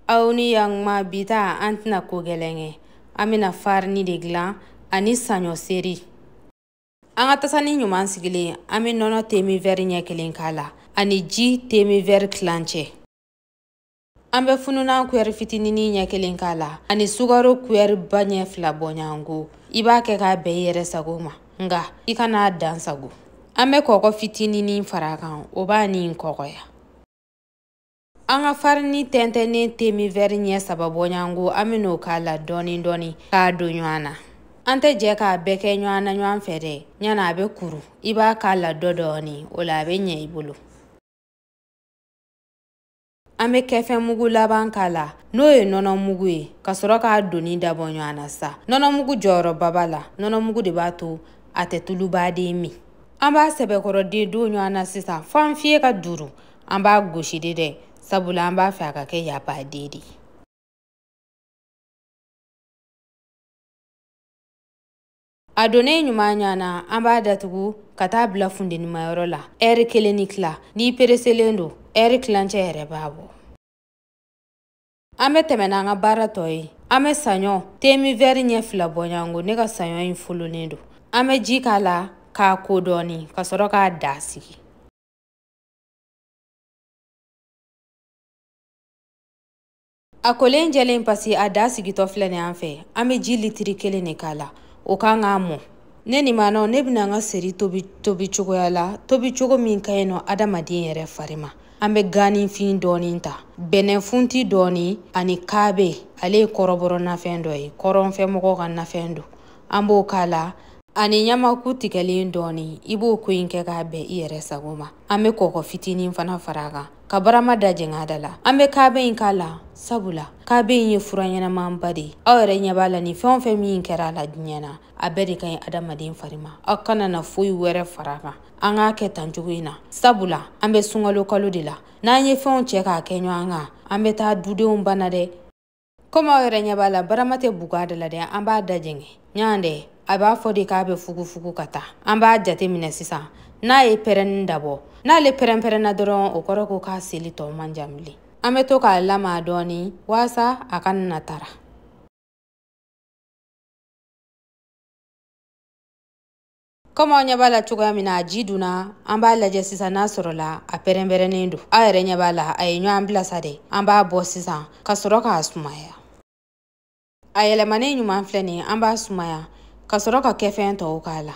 aw ni yanma bi ta an tɛna ko gɛlɛn kɛ an bɛna farini de dilan ani saɲɔ seri an ka tasani ɲuman sigilen an bɛ nɔnɔ temi wɛri ɲɛ kelen k'a la ani ji temi wɛri tilancɛ an bɛ fununan kuyɛri fitinini ɲɛ kelen k'a la ani sugaro kuyɛri ba ɲɛ fila bɔɲɔgɔnko i b'a kɛ k'a bɛn i yɛrɛ sago ma nka i kan'a dan sagon an bɛ kɔkɔ fitinini fara kan o b'a ni kɔkɔya An ka farini tɛntɛnnen temi vɛri ɲɛ saba bɔɲɔgɔnko an bɛn'o k'a la dɔɔni dɔɔni k'a don ɲɔgɔn na an tɛ jɛ k'a bɛɛ kɛ ɲɔgɔn na ɲɔgɔn fɛ dɛ ɲana a bɛ kuru i b'a k'a la dɔ dɔɔni o la a bɛ ɲɛ i bolo an bɛ kɛfɛn mugu laban k'a la n'o ye nɔnɔ mugu ye ka sɔrɔ k'a donni dabɔ ɲɔgɔn na sa nɔnɔ mugu jɔyɔrɔba b'a la nɔnɔ mugu de b'a to a tɛ tuluba de min an b'a sɛbɛkɔrɔ de don ɲɔgɔn na sisan fo an fiye ka duuru an b'a gosi de dɛ sabula an b'a fɛ a ka kɛ yabaden de a donnen ɲuman ɲɔgɔn na an b'a datugu ka taa bila funtenimayɔrɔ la ɛri kelen ni tila n'i pereselen don ɛri tilancɛ yɛrɛ b'a bɔ an bɛ tɛmɛ n'an ka baara tɔ ye an bɛ saɲɔ temi vɛri ɲɛ fila bɔɲɔgɔnko ne ka saɲɔ in folonnen don an bɛ ji k'a la k'a ko dɔɔni ka sɔrɔ k'a da sigi a kolen jɛlen pasi a da sigitɔ filɛ nin an fɛ an bɛ ji litiri kelen de k'a la o kan k'a mɔ ne nin maanɔ ne bɛna an ka seri tobi tobi cogoya la tobi cogo min ka ɲi nɔ adamaden yɛrɛ fari ma an bɛ ganifin dɔɔnin ta bɛnɛfunti dɔɔnin ani kaabe ale ye kɔrɔbɔrɔ nafɛn dɔ ye kɔrɔnfɛmɔgɔw ka nafɛn don an b'o k'a la ani ɲamaku tigɛlen dɔɔni i b'o ko in kɛ k'a bɛn i yɛrɛ sago ma an be kɔkɔ fitinin fana fara kan ka barama da jɛng'a da la an be kabe in k'a la sabula kabe in ye fura ɲɛnamanba de ye aw yɛrɛ ɲɛ b'a la ni fɛn o fɛn min kɛra a la diɲɛ na a bɛɛ de ka ɲi adamaden fari ma aw kana na foyi wɛrɛ fara kan an k'a kɛ tan cogo in na sabula an be sunkalo kalo de la n'an ye fɛnw cɛ k'a kɛ ɲɔgɔn kan an be taa dudenw bana dɛ komi aw yɛrɛ ɲɛ b'a la barama tɛ bugu a da la dɛ an b'a dajɛngɛ ɲan dɛ a b'a fɔ de k'a bɛ fugufugu ka taa an b'a jate minɛ sisan n'a ye pɛrɛnni dabɔ n'ale pɛrɛnpɛrɛnna dɔrɔn o kɔrɔ ko k'a seli tɔ man jan bilen an bɛ to k'a lamaga dɔɔni waasa a kana tara kɔmi aw ɲɛ b'a la cogoya min na a ji dunna an b'a lajɛ sisan n'a sɔrɔla a pɛrɛnpɛrɛnnen don aw yɛrɛ ɲɛ b'a la a ye ɲɔgɔn bila sa dɛ an b'a bɔ sisan ka sɔrɔ k'a sumaya a yɛlɛmanen ɲuman filɛ nin an b'a sumaya ka sɔrɔ ka kɛfɛn tɔw k'a la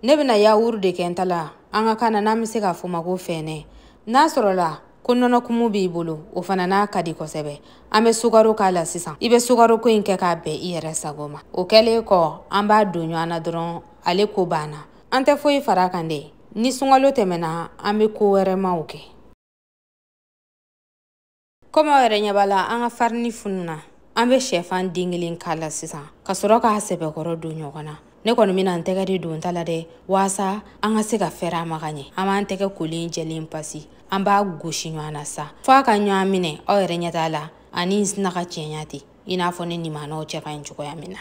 ne bɛna yawuru de kɛ n ta la an ka kan na n'an bɛ se k'a fɔ ma ko fɛnɛ n'a sɔrɔla ko nɔnɔkumu b'i bolo o fana n'a ka di kosɛbɛ an bɛ sukaro k'a la sisan i bɛ sukaroko in kɛ k'a bɛn i yɛrɛ sago ma o kɛlen kɔ an b'a don ɲɔgɔn na dɔrɔn ale ko banna an tɛ foyi fara a kan dɛ ni sunkalo tɛmɛna an bɛ ko wɛrɛmaw kɛ komi aw yɛrɛ ɲɛ b'a la an ka farini fununa an bɛ sɛfan den kelen k'a la sisan ka sɔrɔ k'a sɛbɛkɔrɔ don ɲɔgɔn na ne kɔni bɛna n tɛgɛ de don n ta la dɛ waasa an ka se ka fɛɛrɛ a ma ka ɲɛ an b'an tɛgɛ kolen jɛlen pasi an b'a gosi ɲɔgɔn na sa fo a ka ɲɔgɔn minɛ aw yɛrɛ ɲɛ t'a la a ni sinna ka cɛɲa ten i n'a fɔ ne nimanaw cɛ ka ɲi cogoya min na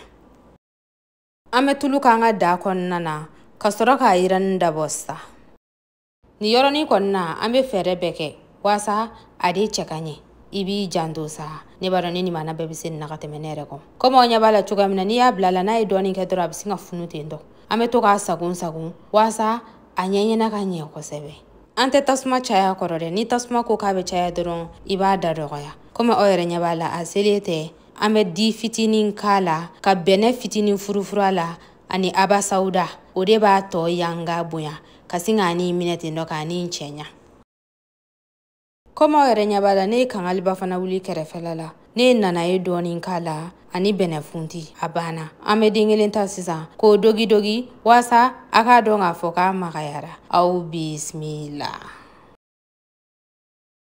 an bɛ tulu k'an ka daga kɔnɔna na ka sɔrɔ k'a yiranni dabɔ sa nin yɔrɔnin kɔni na an bɛ fɛɛrɛ bɛɛ kɛ waasa a de cɛ ka ɲɛ i b'i janto sa ne b'a dɔn ne nimana bɛɛ bɛ se nin na ka tɛmɛ ne yɛrɛ kɔ komi aw ɲɛ b'a la cogoya min na n'i y'a bila a la n'a ye dɔɔnin kɛ dɔrɔn a bɛ sin ka funu ten tɔ an bɛ to k'a sagon sagon waasa a ɲɛɲɛna ka ɲɛ kosɛbɛ an tɛ tasuma caya a kɔrɔ dɛ ni tasuma ko k'a bɛ caya dɔrɔn i b'a da dɔgɔya komi aw yɛrɛ ɲɛ b'a la a selen tɛ an bɛ di fitinin k'a la ka bɛnɛ fitinin furufuru a la ani abasawuda o de b'a tɔ yanga bonya ka sin k'a ni minɛ ten dɔ k'a ni cɛɲa komi aw yɛrɛ ɲɛ b'a la ne ye kangaliba fana wuli kɛrɛfɛla la ne ye nanaye dɔɔnin k'a la ani bɛnɛfunti a banna an bɛ den kelen ta sisan k'o dogidogi waasa a k'a dɔn k'a fɔ k'a magayara aw bisimila